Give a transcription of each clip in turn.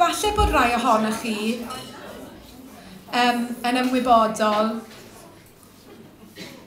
Falle bod rhai ohonoch chi um, yn ymwybodol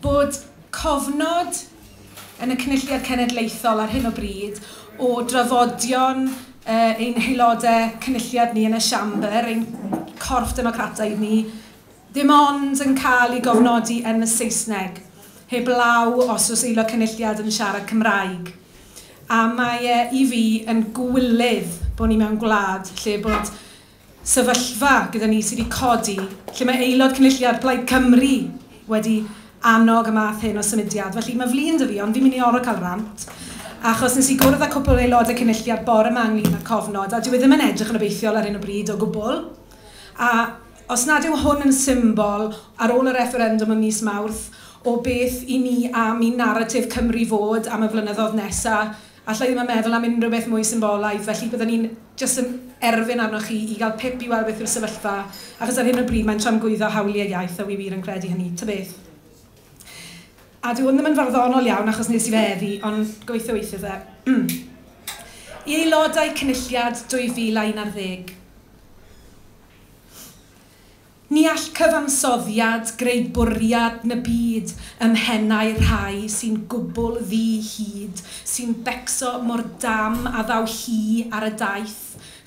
bod cofnod yn y Cynulliad Cenedlaethol ar hyn o bryd o drafodion uh, ein haelodau cynulliad ni yn y siambr, ein corff democrataidd ni, Ddim ond yn cael ei gofnodi yn y Saesneg, heb law os oes Aelod Cynulliad yn siarad Cymraeg. A mae e, i fi, yn gywilydd bod ni mewn gwlad lle bod sefyllfa gyda ni sy wedi codi, lle mae Aelod Cynulliad Plaid Cymru wedi annog y math hyn o symudiad. Felly, mae flin 'da fi, ond fi'n mynd i orfod cael rant, achos wnes i gwrdd â cwpl o Aelodau Cynulliad bore 'ma ynglyn â'r cofnod, a dyw e ddim yn edrych yn obeithiol ar hyn o bryd o gwbl. A Os nad yw hwn yn symbol, ar ôl y refferendwm ym mis Mawrth, o beth i ni am i naratif Cymru fod am y flynyddoedd nesa', alla' i ddim yn meddwl am unrhyw beth mwy symbolaidd, felly bydden i'n jyst yn erfyn arnoch chi i gael pip i weld beth yw'r sefyllfa, achos ar hyn o bryd mae'n tramgwyddo hawliau iaith a wi wir yn credu hynny. Tybeth. A dyw hwn ddim yn farddonol iawn achos nes i fe heddi, ond gobeithio weithio fe. I aelodau Cynulliad 2011. Ni all cyfansoddiad greu bwriad na byd ym mhennau rhai sy'n gwbl ddi hud, sy'n becso mor dam a ddaw hi ar y daith.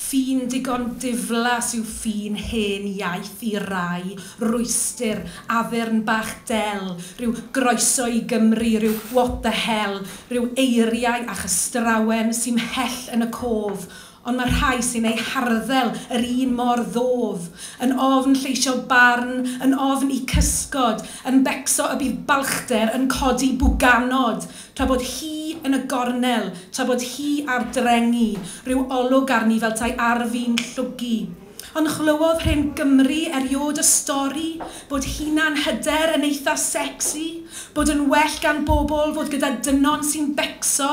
Ffin digon diflas yw ffin hen iaith i rai, rwystr, addurn bach del, rhyw groeso i Gymru, rhyw what the hell, rhyw eiriau a chystrawen sy mhell yn y cof, ond mae rhai sy'n eu harddel yr un mor ddof, yn ofn lleisio barn, yn ofn eu cysgod, yn becso y bydd balchder yn codi bwganod, tra bod hi yn y gornel, tra bod hi ar drengi, rhyw olwg arni fel 'tai arf i'n llwgu. Ond chlywodd hen Gymry eriod y stori bod hunan hyder yn eitha secsi, bod yn well gan bobl fod gyda dynon sy'n becso,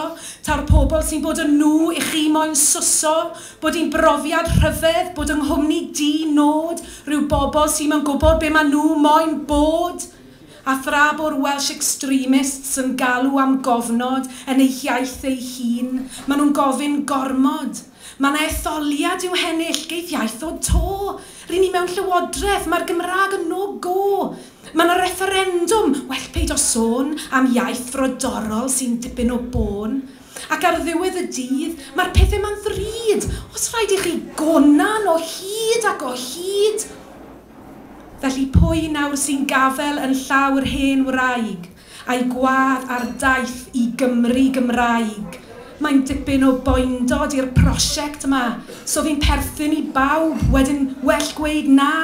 taw'r pobl sy'n bod yn nhw i chi moyn swso, bod hi'n brofiad rhyfedd bod yng nghwmni di nod rhyw bobl sy'm yn gwybod be ma nhw moyn bod! A thra bo'r Welsh extremists yn galw am gofnod yn eu hiaith eu hun, ma nhw'n gofyn gormod! Mae 'na etholiad i'w hennill, geith iaith ddod 'to. Ry'n ni mewn llywodraeth, mae'r Gymraeg yn no go. Mae 'na refferendwm, well peidio sôn am iaith frodorol sy'n dipyn o bôn. Ac ar ddiwedd y dydd, mae'r pethe 'ma'n ddrud, os rhaid i chi gonan o hyd ac o hyd! Felly pwy nawr sy'n gafel yn llaw yr hen wraig? a'i gwadd ar daith i Gymru Gymraeg. Mae'n dipyn o boendod i'r prosiect 'ma, so fi'n perthyn i bawb, wedyn well gweud na!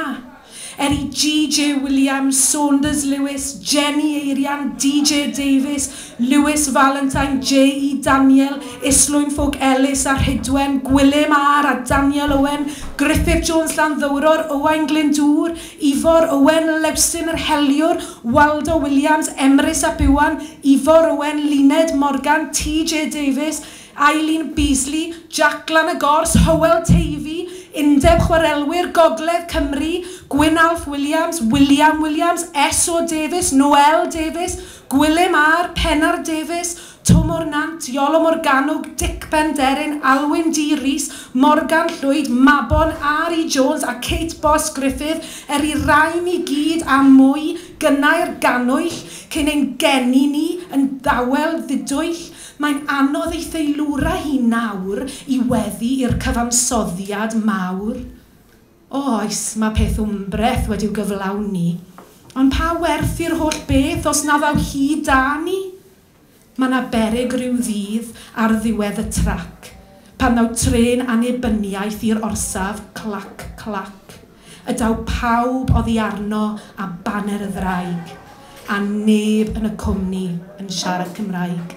Er i GJ Williams, Saunders Lewis, Jenny Eirian, DJ Davies, Lewis Valentine, JE Daniel, Islwyn Ffowc Ellis a Rhydwen, Gwilym Are a Daniel Owen, Gruffydd Jones Llanddowror, Owain Glyndŵr, Ifor Owen, Lewsyn yr Heliwr, Waldo Williams, Emrys ap Iwan, Ifor Owen, Luned Morgan, TJ Davies, Eileen Beasley, Jac Glan y Gors, Hywel Teifi, Undeb Chwarelwyr Gogledd Cymru, Gwyn Alf Williams, William Williams, SO Davies, Noelle Davies, Gwilym R, Pennar Davies, Twmor Nant, Iolo Morgannwg, Dic Penderyn, Alwyn D Rees, Morgan Llwyd, Mabon, RE Jones a Kate Boss Griffith, er i'r rhain i gyd a mwy gynnau'r gannwyll cyn ein geni ni yn dawel ddidwyll, mae'n anodd ei theilwra hi nawr i weddu i'r cyfansoddiad mawr. O oes, mae peth wmbreth wedi'w gyflawni, ond pa werth i'r holl beth os na ddaw hi 'da ni? Mae 'na beryg ryw ddydd ar ddiwedd y trac, pan ddaw trên annibyniaeth i'r orsaf, clac, clac, y daw pawb oddi arno a baner y ddraig, a neb yn y cwmni yn siarad Cymraeg.